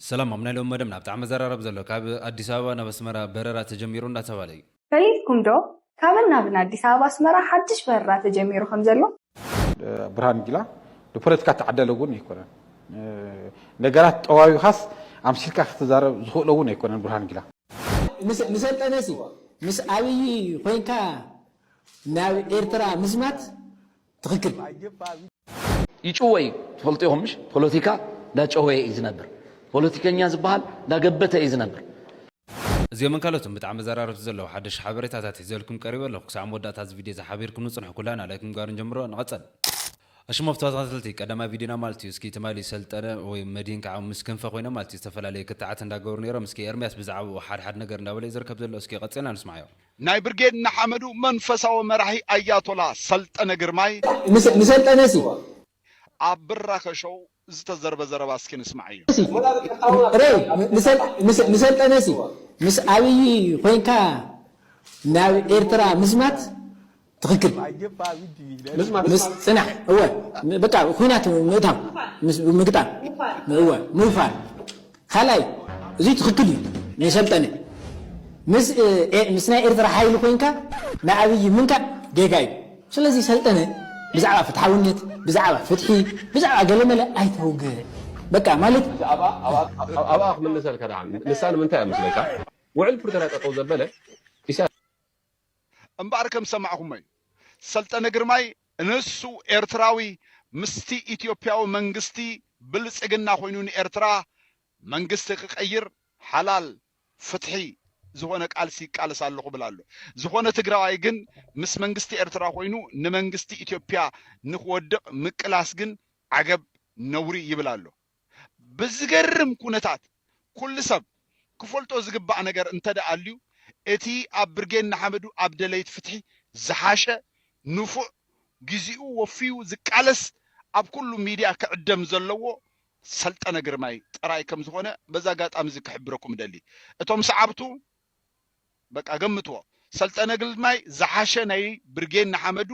ሰላም ኣብ ናይ ሎሚ መደብና ብጣዕሚ ዘራርብ ዘሎ ካብ ኣዲስ ኣበባ ናብ ኣስመራ በረራ ተጀሚሩ እንዳተባለ እዩ። ሪኢኩም ዶ ካብን ናብን ኣዲስ ኣበባ ኣስመራ ሓድሽ በረራ ተጀሚሩ ከም ዘሎ? ብርሃኑ ጁላ ንፖለቲካ እተዓደለ እውን ኣይኮነን። ነገራት ጠዋዊኻስ ኣምሲልካ ክትዛረብ ዝኽእሎ እውን ኣይኮነን ብርሃኑ ጁላ። ምስ ሰልጠነሲ ምስ ኣብይ ኮይንካ ናብ ኤርትራ ምዝማት ትክክል ይጭወይ ትፈልጡ ኢኹም ምሽ ፖለቲካ ዳጨወየ እዩ ዝነብር ፖለቲከኛ ዝበሃል ዳገበተ እዩ ዝነብር። እዚኦምን ካልኦትን ብጣዕሚ ዘራረብቲ ዘለዉ ሓደሽቲ ሓበሬታታት ሒዘልኩም ቀሪበ ኣለኹ ክሳዕ መወዳእታ እዚ ቪድዮ እዚ ሓቢርኩም ንጽንሑ ኩላና ላይክ ምግባር ንጀምሮ ንቐጸል ኣሽሞፍ ተኸታተልቲ ቀዳማይ ቪድዮና ማለት እዩ እስኪ ትማሊ ሰልጠነ ወይ መድሂን ከዓ ምስ ክንፈ ኮይኖም ማለት እዩ ዝተፈላለዩ ክትዓት እንዳገበሩ ነይሮም እስኪ ኤርሚያስ ብዛዕባኡ ሓድሓድ ነገር እንዳበለ እዩ ዝርከብ ዘሎ እስኪ ቀጺልና ንስማዓዮ ናይ ብርጌድ ንሓመዱ መንፈሳዊ መራሒ ኣያቶላ ሰልጠነ ግርማይ ንሰልጠነ ሲ። ኣብ ብራኸ ሾው ዝተዘርበ ዘረባ እስኪ ንስማዓዮ። ሬይ ንሰልጠነ ሲ ምስ ኣብይ ኮይንካ ናብ ኤርትራ ምዝማት ትክክል ምስ ምስ ፅናሕ እወ በቃ ኹናት ምእታው ምስ ምግጣም እወ ምውፋር ካልኣይ እዙይ ትክክል እዩ ንሰልጠነ ምስ ምስ ናይ ኤርትራ ሓይሊ ኮይንካ ንኣብይ ምንካእ ጌጋ እዩ ስለዚ ሰልጠነ ብዛዕባ ፍትሓውነት ብዛዕባ ፍትሒ ብዛዕባ ገለመለ ኣይተውግዕ በቃ ማለት ሕጂ ኣብኣ ኣብኣ ኣብኣ ክምልሰልካ ደኣ ንሳ ንምንታይ እያ መስለካ ውዕል ፕሪቶርያ ጠጠው ዘበለ እምበኣር ከም ዝሰማዕኹሞ እዩ ሰልጠነ ግርማይ ንሱ ኤርትራዊ ምስቲ ኢትዮፕያዊ መንግስቲ ብልጽግና ኮይኑ ንኤርትራ መንግስቲ ክቀይር ሓላል ፍትሒ ዝኾነ ቃልሲ ይቃለስ ኣለኹ ብል ኣሎ ዝኾነ ትግራዋይ ግን ምስ መንግስቲ ኤርትራ ኮይኑ ንመንግስቲ ኢትዮፕያ ንክወድቅ ምቅላስ ግን ዓገብ ነውሪ ይብል ኣሎ ብዝገርም ኩነታት ኩሉ ሰብ ክፈልጦ ዝግባእ ነገር እንተድኣ ኣልዩ እቲ ኣብ ብርጌድ ንሓመዱ ኣብ ደለይት ፍትሒ ዝሓሸ፣ ንፉዕ፣ ግዚኡ ወፍዩ ዝቃለስ ኣብ ኩሉ ሚድያ ክዕደም ዘለዎ ሰልጠነ ግርማይ ጥራይ ከምዝኾነ በዚ ኣጋጣሚ እዚ ክሕብረኩም እደሊ። እቶም ሰዓብቱ በቃ ገምትዎ ሰልጠነ ግልማይ ዝሓሸ ናይ ብርጌን ንሓመዱ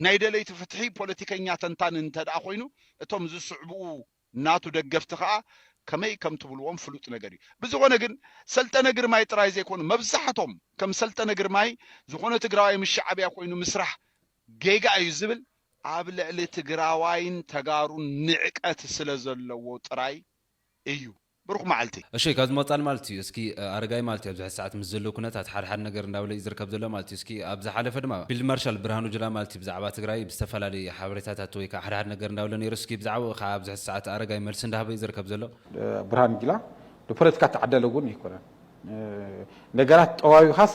ናይ ደለይቲ ፍትሒ ፖለቲከኛ ተንታኒ እንተደኣ ኮይኑ እቶም ዝስዕብኡ ናቱ ደገፍቲ ከኣ ከመይ ከም ትብልዎም ፍሉጥ ነገር እዩ ብዝኾነ ግን ሰልጠነ ግርማይ ጥራይ ዘይኮኑ መብዛሕቶም ከም ሰልጠነ ግርማይ ዝኾነ ትግራዋይ ምስ ሻዕብያ ኮይኑ ምስራሕ ጌጋ እዩ ዝብል ኣብ ልዕሊ ትግራዋይን ተጋሩን ንዕቀት ስለ ዘለዎ ጥራይ እዩ ብሩኽ መዓልቲ። እሺ ካብዚ ምቕጻል ማለት እዩ እስኪ ኣረጋይ ማለት እዩ ኣብዚ ሕዚ ሰዓት ምስ ዘሎ ኩነታት ሓደ ሓደ ነገር እንዳበለ እዩ ዝርከብ ዘሎ ማለት እዩ እስኪ ኣብ ዝሓለፈ ድማ ፊልድ ማርሻል ብርሃኑ ጁላ ማለት እዩ ብዛዕባ ትግራይ ብዝተፈላለዩ ሓበሬታታት ወይ ካዓ ሓደ ሓደ ነገር እንዳበለ ነይሩ እስኪ ብዛዕብኡ ካዓ ኣብዚ ሕዚ ሰዓት ኣረጋይ መልሲ እንዳሃበ እዩ ዝርከብ ዘሎ። ብርሃኑ ጁላ ንፖለቲካ እተዓደለ እውን ኣይኮነን ነገራት ጠዋዊኻስ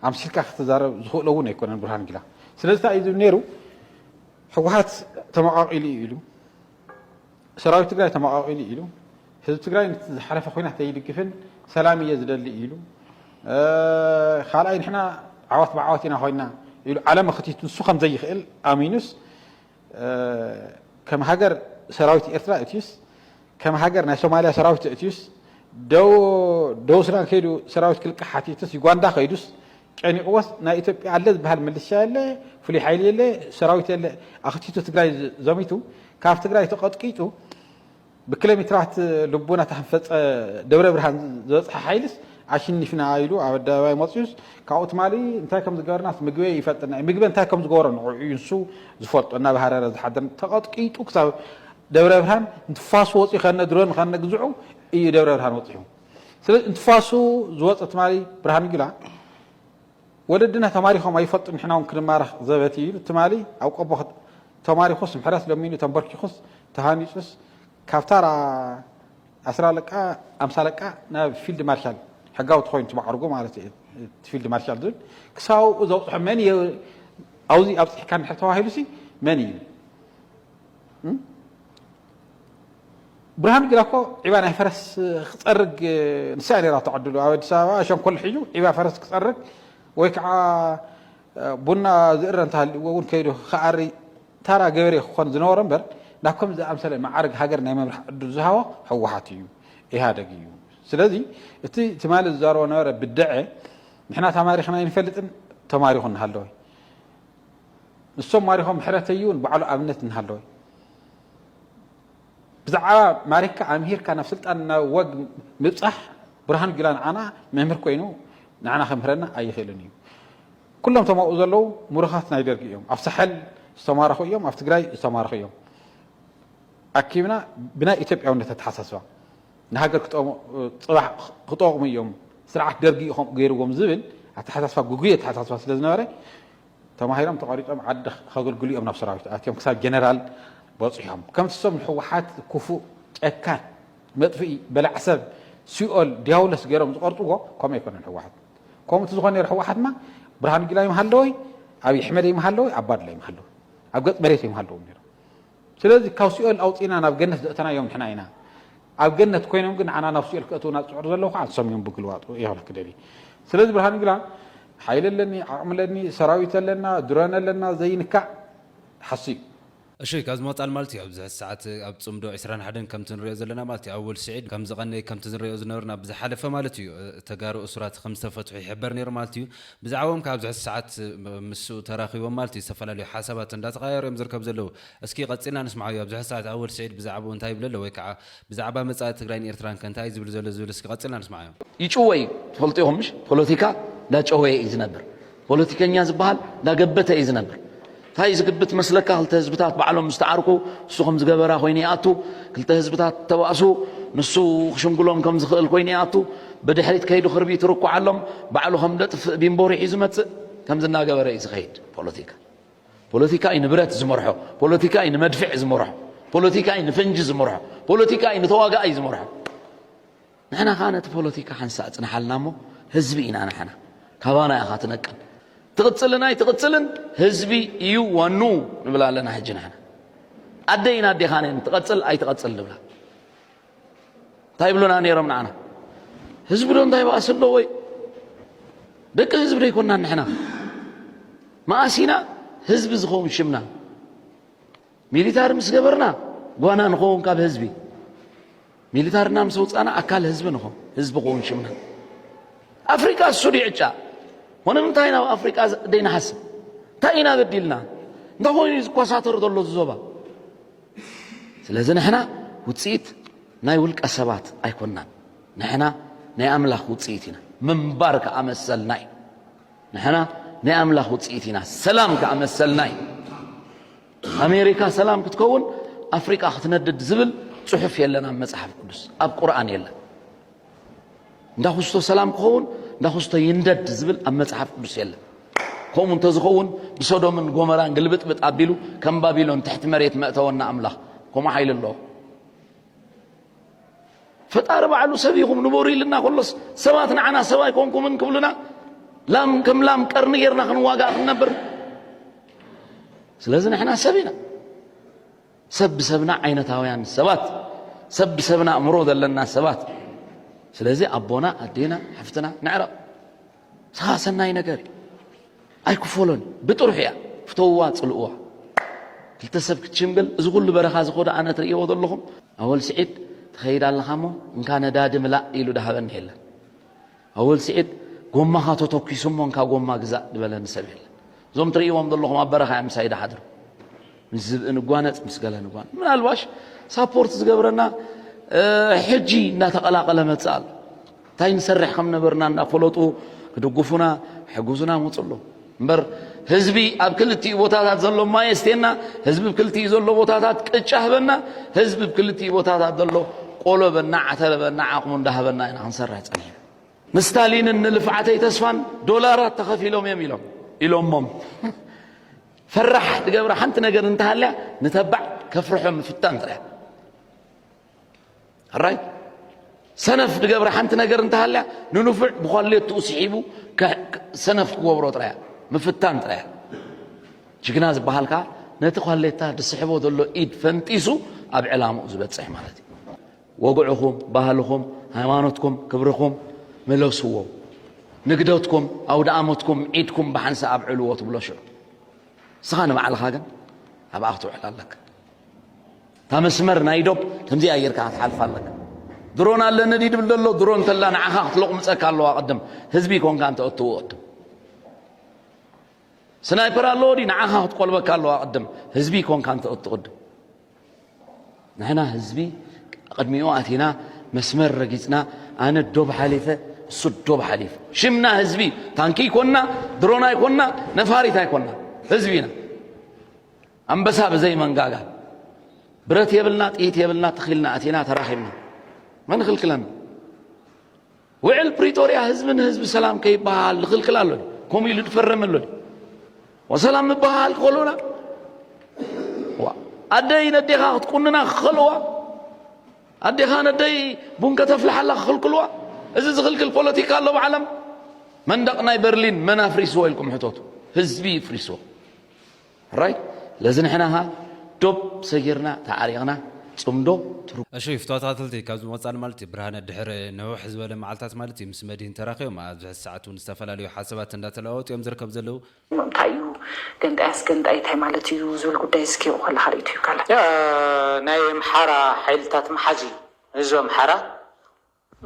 ኣምሲልካ ክትዛረብ ዝኽእሎ እውን ኣይኮነን ብርሃኑ ጁላ ስለዚ እንታይ እዩ ዝብል ነይሩ ህወሓት ተመቓቒሉ እዩ ኢሉ ሰራዊት ትግራይ ተመቓቒሉ ኢሉ፣ ህዝቢ ትግራይ ንቲ ዝሓለፈ ኹናት ኣይድግፍን ሰላም እየ ዝደሊ ኢሉ፣ ካልኣይ ንሕና ዓወት ብዓወት ኢና ኮይና ኢሉ ዓለም ኣኽቲቱ ንሱ ከም ዘይኽእል ኣሚኑስ ከም ሃገር ሰራዊት ኤርትራ እትዩስ ከም ሃገር ናይ ሶማልያ ሰራዊት እትዩስ ደቡብ ሱዳን ከይዱ ሰራዊት ክልቃሕ ሓቲቱስ ዩጋንዳ ከይዱስ ጨኒቅዎስ ናይ ኢትዮጵያ ኣለ ዝብሃል ምልሻ የለ ፍሉይ ሓይሊ የለ ሰራዊት የለ ኣኽቲቱ ትግራይ ዘሚቱ ካብ ትግራይ ተቀጥቂጡ ብክለሜትራት ልቡና ታህንፈፀ ደብረ ብርሃን ዝበፅሐ ሓይልስ ኣሽኒፍና ኢሉ ኣብ ኣደባባይ መፅዩስ ካብኡ ትማሊ እንታይ ከም ዝገበርናስ ምግበ ይፈልጥና እዩ ምግበ እንታይ ከም ዝገበሮ ንዕኡ እዩ ንሱ ዝፈልጦ እናባህረረ ዝሓደር ተቀጥቂጡ ክሳብ ደብረ ብርሃን ንትፋሱ ወፅዩ ከነ ድሮን ከነ ግዝዑ እዩ ደብረ ብርሃን ወፅሑ ስለዚ እንትፋሱ ዝወፀ ትማሊ ብርሃኑ ጁላ ወለድና ተማሪኾም ኣይፈልጡን ንሕና እውን ክንማረኽ ዘበት እዩ ኢሉ ትማሊ ኣብ ቆቦ ተማሪኹስ ምሕረት ለሚኑ ተንበርኪኹስ ተሃኒፁስ ካብ ታራ ኣስራ ለቃ ኣምሳ ለቃ ናብ ፊልድ ማርሻል ሕጋዊ ተኮይኑ ትማዕርጎ ማለት እዩ ፊልድ ማርሻል ዝብል ክሳብ ኣብኡ ዘብፅሖ መን እዩ ኣብዚ ኣብፅሕካ ንድሕር ተባሂሉሲ መን እዩ ብርሃኑ ጁላ እኮ ዒባ ናይ ፈረስ ክጸርግ ንሳ ነራቶ ዕድሉ ኣብ ኣዲስ ኣበባ ሸንኮል ሒዙ ዒባ ፈረስ ክጸርግ ወይ ከዓ ቡና ዝእረ እንተሃልዎ እውን ከይዱ ክኣሪ ታራ ገበሬ ክኾን ዝነበሮ እምበር ናብ ከም ዝኣምሰለ መዓርግ ሃገር ናይ ምምራሕ ዕድል ዝሃቦ ህወሓት እዩ ኢህኣደግ እዩ ስለዚ እቲ ትማሊ ዝዛረቦ ነበረ ብደዐ ንሕና ተማሪኽና ኣይንፈልጥን ተማሪኹ እናሃለወ ንሶም ማሪኾም ምሕረተይውን ባዕሉ ኣብነት እናሃለወ ብዛዕባ ማሪካ ኣምሂርካ ናብ ስልጣን ናብ ወግ ምብጻሕ ብርሃኑ ጁላ ንዓና መምህር ኮይኑ ንዓና ከምህረና ኣይኽእልን እዩ። ኩሎም እቶም ኣብኡ ዘለዉ ምሩኻት ናይ ደርጊ እዮም። ኣብ ሳሕል ዝተማረኹ እዮም፣ ኣብ ትግራይ ዝተማረኹ እዮም። ኣኪብና ብናይ ኢትዮጵያውነት ኣተሓሳስባ ንሃገር ፅባሕ ክጠቕሙ እዮም ስርዓት ደርጊ ገይርዎም ዝብል ኣተሓሳስባ ጉጉይ ኣተሓሳስባ ስለ ዝነበረ ተማሂሮም ተቐሪጾም ዓዲ ከግልግሉ ኢዮም ናብ ሰራዊት ኣትዮም ክሳብ ጀነራል በጺሖም ከምቲ ሰም ንሕዋሓት ኩፉእ ጨካን መጥፍኢ በላዕ ሰብ ሲኦል ድያውለስ ገሮም ዝቐርጽዎ ከምኡ ኣይኮነን ሕዋሓት ከምኡ ትዝኾን ነሩ ሕዋሓትማ ብርሃኑ ጁላ ይምሃለወይ ኣብይ ሕመድ ይምሃለወይ ኣባዱላ ይምሃለወይ ኣብ ገጽ መሬት ይምሃለዎም ነሩ ስለዚ ካብ ሲኦል ኣውጺእና ናብ ገነት ዘእተናዮም ንሕና ኢና። ኣብ ገነት ኮይኖም ግን ንዓና ናብ ሲኦል ከእትውና ዝጽዕሩ ዘለዉ ከኣ ንሶም እዮም ብግልባጡ ኢየ ክብለኪ ደልየ። ስለዚ ብርሃን ጁላ ሓይሊ ኣለኒ ዓቕሚ ኣለኒ ሰራዊት ኣለና ድሮን ኣለና ዘይንካእ ሓስዩ። እሺ ካብዚ ምቕጻል ማለት እዩ ኣብዚ ሕዚ ሰዓት ኣብ ጽምዶ ዕስራን ሓደን ከምቲ ንርእዮ ዘለና ማለት እዩ ኣወል ሲዒድ ከምዝቐነየ ከምቲ ዝንርእዮ ዝነበርና ብዝሓለፈ ማለት እዩ ተጋሩ እሱራት ከምዝተፈትሑ ይሕበር ነይሩ ማለት እዩ። ብዛዕብኦም ክኣ ኣብዚ ሕዚ ሰዓት ምስ ተራኺቦም ማለት እዩ ዝተፈላለዩ ሓሳባት እንዳተቐያየሩ እዮም ዝርከቡ ዘለዉ። እስኪ ቀጺልና ንስምዓዮ ኣብዚ ሕዚ ሰዓት ኣወል ስዒድ ብዛዕብኡ እንታይ ይብለሎ ወይ ክኣ ብዛዕባ መጻኢ ትግራይን ኤርትራን ከ እንታይ እዩ ዝብል ዘሎ ዝብል እስኪ ቀጺልና ንስምዓዮ። ይጭወይ ትፈልጡ ኢኹም ምሽ ፖለቲካ እንዳጨወየ እዩ ዝነብር ፖለቲከኛ ዝብሃል እንዳገበተ እዩ ዝነብር ታይ እዩ ዝግብት መስለካ ክልተ ህዝብታት ባዕሎም ምስ ተዓርቁ እሱ ከም ዝገበራ ኮይኑ ይኣቱ ክልተ ህዝብታት ተባእሱ ንሱ ክሽምግሎም ከም ዝኽእል ኮይኑ ይኣቱ ብድሕሪት ከይዱ ክርቢት ይርኩዓሎም ባዕሉ ከም ደጥፍእ ቢምቦ ሪሑ ዝመጽእ ከምዚ እናገበረ እዩ ዝኸይድ ፖለቲካ ፖለቲካ እዩ ንብረት ዝመርሖ ፖለቲካ እዩ ንመድፍዕ ዝመርሖ ፖለቲካ እዩ ንፈንጂ ዝመርሖ ፖለቲካ እዩ ንተዋጋኣይ ዝመርሖ ንሕና ከኣ ነቲ ፖለቲካ ሓንሳእ ጽንሓልና እሞ ህዝቢ ኢና ንሕና ካባና ኢኻ ትነቅል ትቕጽልን ኣይትቕጽልን ህዝቢ እዩ ዋንኡ ንብል ኣለና ሕጂ ንሕና ኣደይን ኣዴኻን እየን ትቐጽል ኣይትቐጽል ንብላ እንታይ ይብሉና ነይሮም ንዓና ህዝቢ ዶ እንታይ ባእሲ ኣለዎ እዩ ደቂ ህዝቢ ዶ ኣይኮንናን ንሕና መኣሲና ህዝቢ ዝኸውን ሽምና ሚሊታሪ ምስ ገበርና ጓና ንኸውን ካብ ህዝቢ ሚሊታርና ምስ ውፃና ኣካል ህዝቢ ንኾን ህዝቢ ክውን ሽምና ኣፍሪቃ እሱ ዕጫ ኮነ እንታይ ናብ ኣፍሪቃ ደይንሓስብ እንታይ ኢና በዲልና እንታይ ኮይኑ እዩ ዝኮሳተሩ ዘሎ ዝዞባ ስለዚ ንሕና ውፅኢት ናይ ውልቀ ሰባት ኣይኮናን ንሕና ናይ ኣምላኽ ውፅኢት ኢና ምንባር ከዓ መሰልና እዩ ንሕና ናይ ኣምላኽ ውጽኢት ኢና፣ ሰላም ከኣ መሰልና እዩ። ኣሜሪካ ሰላም ክትከውን ኣፍሪቃ ክትነድድ ዝብል ጽሑፍ የለን ኣብ መጽሓፍ ቅዱስ፣ ኣብ ቁርኣን የለን። እንዳ ኩስቶ ሰላም ክኸውን እንዳ ኩስቶ ይንደድ ዝብል ኣብ መጽሓፍ ቅዱስ የለን። ከምኡ እንተዝኸውን ብሶዶምን ጎመራን ግልብጥብጥ ኣቢሉ ከም ባቢሎን ትሕቲ መሬት መእተወና ኣምላኽ ከምኡ ሓይሊ ኣለዎ። ፈጣሪ ባዕሉ ሰብ ኢኹም ንበሩ ኢልና ከሎስ ሰባት ንዓና ሰብ ኣይኮንኩምን ክብሉና ላም ከም ላም ቀርኒ ጌርና ክንዋጋእ ክንነብር ስለዚ ንሕና ሰብ ኢና ሰብ ብሰብና ዓይነታውያን ሰባት ሰብ ብሰብና እምሮ ዘለና ሰባት ስለዚ ኣቦና ኣዴና ሓፍትና ንዕረቕ ንስኻ ሰናይ ነገር እዩ ኣይክፈሎን እዩ ብጥርሑ እያ ፍተውዋ ጽልእዋ ክልተ ሰብ ክትሽምግል እዚ ኩሉ በረኻ እዚ ኮዶ ኣነ ትርእይዎ ዘለኹም ኣወል ስዒድ ትኸይድ ኣለኻ እሞ እንካ ነዳዲ ምላእ ኢሉ ዳሃበኒ የለን ኣወል ስዒድ ጎማኻ ተተኪሱ እሞ እንካ ጎማ ግዛእ ድበለኒ ሰብ የለን እዞም ትርእይዎም ዘለኹም ኣብ በረኻ እዮም ምሳይ ዳሓድሩ ምስ ዝብኢ ንጓነጽ ምስ ገለ ንጓን ምናልባሽ ሳፖርት ዝገብረና ሕጂ እናተቐላቐለ መጽእ ኣሎ ታይ ንሰርሕ ከምነበርና እንዳፈለጡ ክድጉፉና ሕጉዙና መፁ ኣሎ እምበር ህዝቢ ኣብ ክልቲኡ ቦታታት ዘሎ ማይ የስቴና ህዝቢ ብ ክልቲኡ ዘሎ ቦታታት ቅጫ ህበና ህዝቢ ብ ክልቲኡ ቦታታት ዘሎ ቆሎ በና ዓተረ በና ዓቕሙ እንዳሃበና ኢና ክንሰርሕ ፀኒሕና ንስታሊንን ንልፍዓተይ ተስፋን ዶላራት ተኸፊሎም እዮም ኢሎም ኢሎሞም ፈራሕ ትገብረ ሓንቲ ነገር እንተሃልያ ንተባዕ ከፍርሖ ምፍታን ጥራሕ ራይት ሰነፍ ድገብረ ሓንቲ ነገር እንተሃልያ ንንፉዕ ብኳሌትኡ ስሒቡ ሰነፍ ክገብሮ ጥራያ ምፍታን ጥራያ ጅግና ዝበሃል ከዓ ነቲ ኳሌታ ዝስሕቦ ዘሎ ኢድ ፈንጢሱ ኣብ ዕላምኡ ዝበፅሕ ማለት እዩ ወግዕኹም ባህልኹም ሃይማኖትኩም ክብርኹም ምለስዎ ንግደትኩም ኣውደኣመትኩም ዒድኩም ብሓንሳ ኣብዕልዎ ትብሎ ሽዑ ንስኻ ንባዕልኻ ግን ኣብኣ ክትውዕል ኣለካ እታ መስመር ናይ ዶብ ከምዚኣ ጌርካ ክትሓልፋ ኣለካ። ድሮን ኣለኒ ድዩ ድብል ዘሎ ድሮን ተላ ንዓኻ ክትሎቕምጸካ ኣለዋ ቅድም ህዝቢ ኮንካ እንተ እትወቅቱ ስናይፐር ኣለዎ ድዩ ንዓኻ ክትቆልበካ ኣለዋ ቅድም ህዝቢ ኮንካ እንተ እትቕድም ንሕና ህዝቢ ቅድሚኡ ኣቲና መስመር ረጊጽና ኣነ ዶብ ሓሊፈ እሱ ዶብ ሓሊፈ ሽምና ህዝቢ ታንኪ ይኮንና ድሮን ኣይኮንና ነፋሪት ኣይኮንና ህዝቢ ኢና ኣንበሳ ብዘይ መንጋጋ ብረት የብልና ጥይት የብልና ተኺልና ኣቲና ተራኺብና መን ኽልክለና ውዕል ፕሪቶርያ ህዝቢ ንህዝቢ ሰላም ከይበሃል ዝኽልክል ኣሎ ከምኡ ኢሉ ዝፈረመ ኣሎ ወሰላም ምበሃል ክኸልኡና ኣደይ ነዴኻ ክትቁንና ክኸልዋ ኣዴኻ ነደይ ቡን ከተፍልሓላ ክኽልክልዋ እዚ ዝኽልክል ፖለቲካ ኣሎ ብዓለም መንደቕ ናይ በርሊን መን ኣፍሪስዎ ኢልኩም ሕተቱ ህዝቢ ይፍሪስዎ ሕራይ ለዚ ንሕና ኸኣ ዶብ ሰጊርና ተዓሪቕና ጽምዶ። እሺ ፍትዋት ኣትልቲ ካብዚ ወጻን ማለት እዩ ብርሃነ ድሕሪ ንውሕ ዝበለ መዓልታት ማለት እዩ ምስ መድሂን ተራኪቦም ኣብዚ ሕዚ ሰዓት ውን ዝተፈላለዩ ሓሳባት እንዳ ተለዋወጡ እዮም ዝርከቡ ዘለው። እንታይ እዩ ገንጣይ ኣስገንጣይ እንታይ ማለት እዩ ዝብል ጉዳይ ዝስኪቁ ከለካ ሪኢቶ እዩ ካልእ። ናይ ኣምሓራ ሓይልታት መሓዚ ህዝቢ ኣምሓራ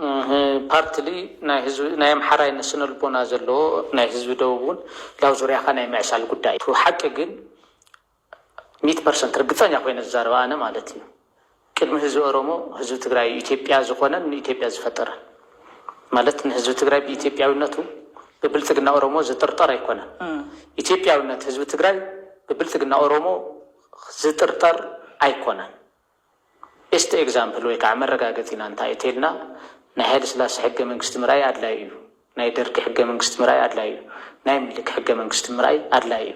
እህ ፓርትሊ ናይ ህዝቢ ናይ ኣምሓራይነት ስነልቦና ዘለዎ ናይ ህዝቢ ደቡብ ውን ላብ ዙርያኻ ናይ ምዕሳል ጉዳይ እዩ ሓቂ ግን ሚት ፐርሰንት ርግፀኛ ኮይነ ዝዛረብ ኣነ ማለት እዩ ቅድሚ ህዝቢ ኦሮሞ ህዝቢ ትግራይ እዩ ኢትዮጵያ ዝኾነን ንኢትዮጵያ ዝፈጠረን ማለት ንህዝቢ ትግራይ ብኢትዮጵያዊነቱ ብብልፅግና ኦሮሞ ዝጥርጠር ኣይኮነን ኢትዮጵያዊነት ህዝቢ ትግራይ ብብልፅግና ኦሮሞ ዝጥርጠር ኣይኮነን ቤስት ኤግዛምፕል ወይ ከዓ መረጋገፂና እንታይ እዩ ተይልና ናይ ሃይለስላሰ ሕገ መንግስቲ ምርኣይ ኣድላይ እዩ፣ ናይ ደርጊ ሕገ መንግስቲ ምርኣይ ኣድላይ እዩ፣ ናይ ምኒልክ ሕገ መንግስቲ ምርኣይ ኣድላይ እዩ።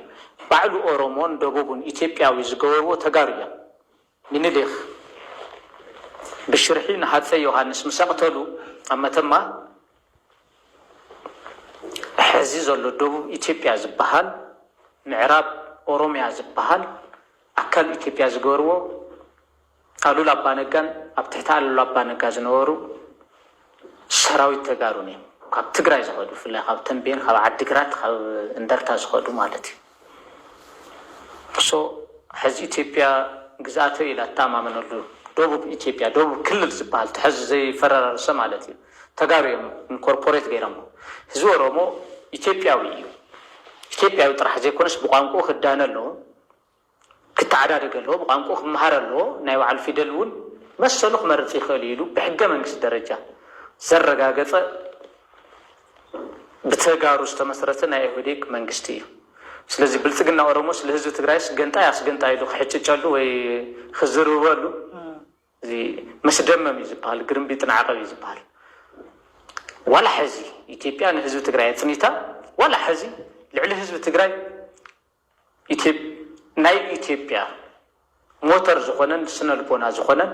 ባዕሉ ኦሮሞን ደቡብን ኢትዮጵያዊ ዝገበርዎ ተጋሩ እዮም። ምኒልክ ብሽርሒ ንሃፀይ ዮሃንስ ምስ ኣቕተሉ ኣብ መተማ ሐዚ ዘሎ ደቡብ ኢትዮጵያ ዝበሃል ምዕራብ ኦሮሚያ ዝበሃል ኣካል ኢትዮጵያ ዝገበርዎ ኣሉላ ኣባነጋን ኣብ ትሕቲ ኣሉላ ኣባነጋ ዝነበሩ ሰራዊት ተጋሩን እዮም ካብ ትግራይ ዝኸዱ ብፍላይ ካብ ተምቤን ካብ ዓዲግራት ካብ እንደርታ ዝኸዱ ማለት እዩ ሶ ሕዚ ኢትዮጵያ ግዝኣተይ ኢላ እትኣማመነሉ ደቡብ ኢትዮጵያ ደቡብ ክልል ዝበሃል እቲ ሕዚ ዘይፈረራርሰ ማለት እዩ ተጋሩ እዮም ኢንኮርፖሬት ገይረሞ ህዝቢ ኦሮሞ ኢትዮጵያዊ እዩ ኢትዮጵያዊ ጥራሕ ዘይኮነስ ብቋንቁኡ ክዳነ ኣለዎ ክተዓዳደግ ኣለዎ፣ ብቋንቁኡ ክመሃር ኣለዎ፣ ናይ ባዕሉ ፊደል እውን መሰሉ ክመርፅ ይኽእል እዩ ኢሉ ብሕገ መንግስቲ ደረጃ ዘረጋገፀ ብተጋሩ ዝተመስረተ ናይ ኢህወዴግ መንግስቲ እዩ። ስለዚ ብልፅግና ኦሮሞስ ልህዝቢ ትግራይስ ገንጣይ ኣስገንጣይ ኢሉ ክሕጭጨሉ ወይ ክዝርርበሉ እዚ መስደመም እዩ ዝበሃል፣ ግርምቢጥ ንዓቐብ እዩ ዝበሃል። ዋላ ሕዚ ኢትዮጵያ ንህዝቢ ትግራይ ኣፅኒታ ዋላ ሕዚ ልዕሊ ህዝቢ ትግራይ ናይ ኢትዮጵያ ሞተር ዝኾነን ስነልቦና ዝኾነን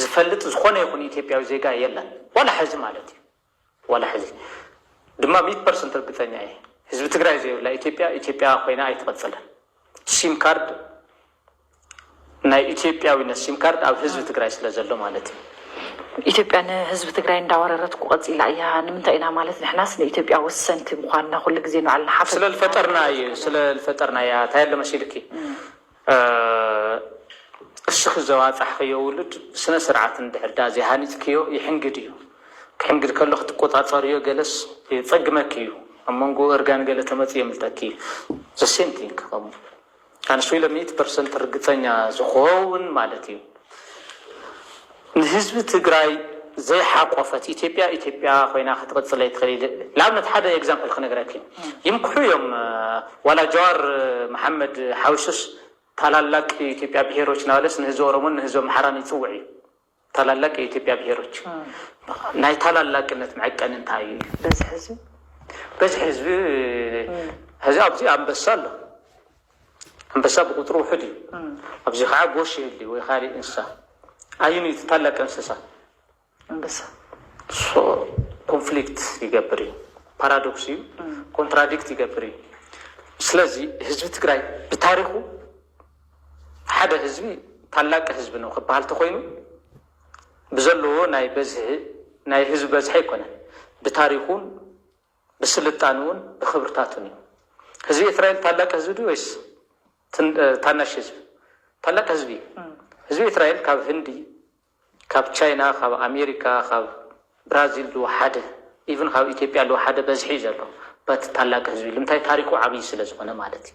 ዝፈልጥ ዝኾነ ይኹን ኢትዮጵያዊ ዜጋ የለን ዋላ ሐዚ ማለት እዩ ዋላ ሐዚ ድማ ሚት ፐርሰንት ርግፀኛ እየ ህዝቢ ትግራይ ዘይብላ ኢትዮጵያ ኢትዮጵያ ኮይና ኣይትቐፅልን ሲም ካርድ ናይ ኢትዮጵያዊነት ሲም ካርድ ኣብ ህዝቢ ትግራይ ስለ ዘሎ ማለት እዩ። ኢትዮጵያ ንህዝቢ ትግራይ እንዳወረረትኩ ቀፂላ እያ ንምንታይ ኢና ማለት ንሕናስ ንኢትዮጵያ ወሰንቲ ምኳንና ኩሉ ግዜ ንባዕልና ሓፈት ስለ ልፈጠርና እዩ ስለ ልፈጠርና እያ ታይ ኣሎ መሲልኪ እስኺ ዘዋፃሕኽዮ ውሉድ ብስነ ስርዓት እንድሕር ድኣ ዘይሃኒፅክዮ ይሕንግድ እዩ ክሕንግድ ከሎ ክትቆፃፀርዮ ገለስ የፀግመኪ እዩ ኣብ መንጎ እርጋን ገለ ተመፅእ የምልጠኪ እዩ the same thing ከምኡ ኣንሱ ኢለ ሚእቲ ፐርሰንት ርግፀኛ ዝኸውን ማለት እዩ ንህዝቢ ትግራይ ዘይሓቆፈት ኢትዮጵያ ኢትዮጵያ ኮይና ክትቕፅል ኣይትኽእል ንኣብነት ሓደ ኤግዛምፕል ክነግረኪ ይምክሑ እዮም ዋላ ጃዋር መሓመድ ሓዊሱስ ታላላቅ የኢትዮጵያ ብሄሮች ናበለስ ንህዝቢ ኦሮሞን ንህዝቢ ኣምሓራን ይፅውዕ እዩ ታላላቅ የኢትዮጵያ ብሄሮች ናይ ታላላቅነት መዐቀኒ እንታይ እዩ? በዝሒ ህዝቢ በዝሒ ህዝቢ ሕዚ ኣብዚ ኣንበሳ ኣሎ ኣንበሳ ብቁፅሪ ውሑድ እዩ ኣብዚ ከዓ ጎሽ ይህሊ ወይ ካሊእ እንስሳ ኣዩን እዩ እቲ ታላቅ እንስሳ ኣንበሳ ሶ ኮንፍሊክት ይገብር እዩ ፓራዶክስ እዩ ኮንትራዲክት ይገብር እዩ ስለዚ ህዝቢ ትግራይ ብታሪኩ ሓደ ህዝቢ ታላቂ ህዝቢ ነው ክበሃል ተኮይኑ ብዘለዎ ናይ በዝሒ ናይ ህዝቢ በዝሒ ኣይኮነን ብታሪኩን ብስልጣንኡን ብክብርታቱን እዩ። ህዝቢ ኤትራኤል ታላቂ ህዝቢ ድዩ ወይስ ታናሽ ህዝቢ? ታላቂ ህዝቢ እዩ። ህዝቢ ኤትራኤል ካብ ህንዲ ካብ ቻይና ካብ ኣሜሪካ ካብ ብራዚል ዝወሓደ ኢቭን ካብ ኢትዮጵያ ልወሓደ በዝሒ እዩ ዘሎ በት ታላቅ ህዝቢ ልምታይ ታሪኩ ዓብይ ስለ ዝኮነ ማለት እዩ።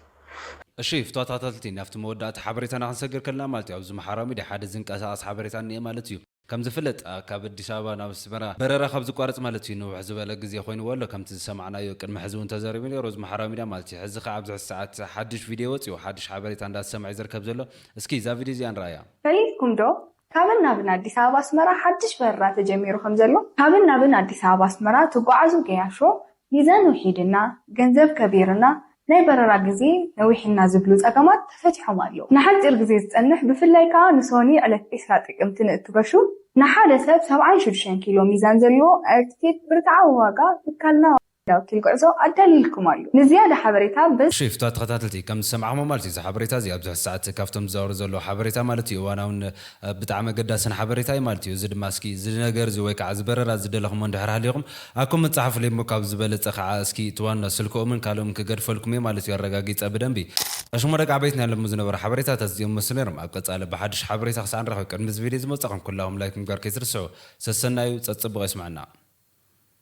እሺ ፍትዋት ተከታተልቲ ናብቲ መወዳእታ ሓበሬታና ክንሰግር ከለና ማለት እዩ ኣብዚ ማሓራዊ ሚድያ ሓደ ዝንቀሳቀስ ሓበሬታ እንኤ ማለት እዩ ከም ዝፍለጥ ካብ ኣዲስ ኣበባ ናብ ኣስመራ በረራ ካብ ዝቋረጽ ማለት እዩ ንውሕ ዝበለ ግዜ ኮይንዎ ኣሎ ከምቲ ዝሰማዕናዮ ቅድሚ ሕዚ ውን ተዘሪቡ ኔሩ እዚ ማሓራዊ ሚድያ ማለት እዩ ሕዚ ከኣ ኣብዚ ሕዚ ሰዓት ሓዱሽ ቪድዮ ወጺኡ ሓዱሽ ሓበሬታ እንዳተሰምዐ እዩ ዝርከብ ዘሎ እስኪ እዛ ቪድዮ እዚኣ ንርኣያ። ፈሊጥኩም ዶ ካብን ናብን ኣዲስ ኣበባ ኣስመራ ሓድሽ በረራ ተጀሚሩ ከም ዘሎ? ካብን ናብን ኣዲስ ኣበባ ኣስመራ ትጓዓዙ ገያሾ ሚዛን ውሒድና፣ ገንዘብ ከቢርና፣ ናይ በረራ ግዜ ነዊሕና ዝብሉ ጸገማት ተፈቲሖም ኣለዉ። ንሓጺር ግዜ ዝጸንሕ ብፍላይ ከኣ ንሶኒ ዕለት ዕስራ ጥቅምቲ ንእትገሹ ንሓደ ሰብ ሰብዓን ሽዱሽተን ኪሎ ሚዛን ዘለዎ ኣየርቲኬት ብርትዓዊ ዋጋ ትካልና ናውትን ጉዕዞ ኣዳሊልኩም ኣሉ ንዝያዳ ሓበሬታ በዚ። ሽፍታ ተኸታተልቲ ከም ዝሰማዕክሞ ማለት እዩ እዚ ሓበሬታ እዚ ኣብዚ ሕዚ ሰዓት ካብቶም ዝዛወሩ ዘለዉ ሓበሬታ ማለት እዩ እዋናውን ብጣዕሚ ኣገዳስን ሓበሬታ እዩ ማለት እዩ እዚ ድማ እስኪ እዚ ነገር እዚ ወይ ከዓ እዚ በረራ ዝደለኽሞ እንድሕር ሃሊኹም ኣብ ኮመንት ፀሓፉለይ እሞ ካብዚ ዝበለፀ ከዓ እስኪ እቲ ዋና ስልክኦምን ካልእም ክገድፈልኩም እየ ማለት እዩ ኣረጋጊፀ ብደንቢ ኣሽሞ ደቂ ዓበይት ናይ ሎሚ ዝነበሩ ሓበሬታታት እዚኦም መስሉ ነይሮም ኣብ ቀፃሊ ብሓዱሽ ሓበሬታ ክሳዕ ንራኸብ ቅድሚ እዚ ቪድዮ እዚ ምውፃእኹም ኩላኹም ላይክ ምግባር ከይትርስዑ ሰሰናዩ ፀፅቡቕ የስመዐና።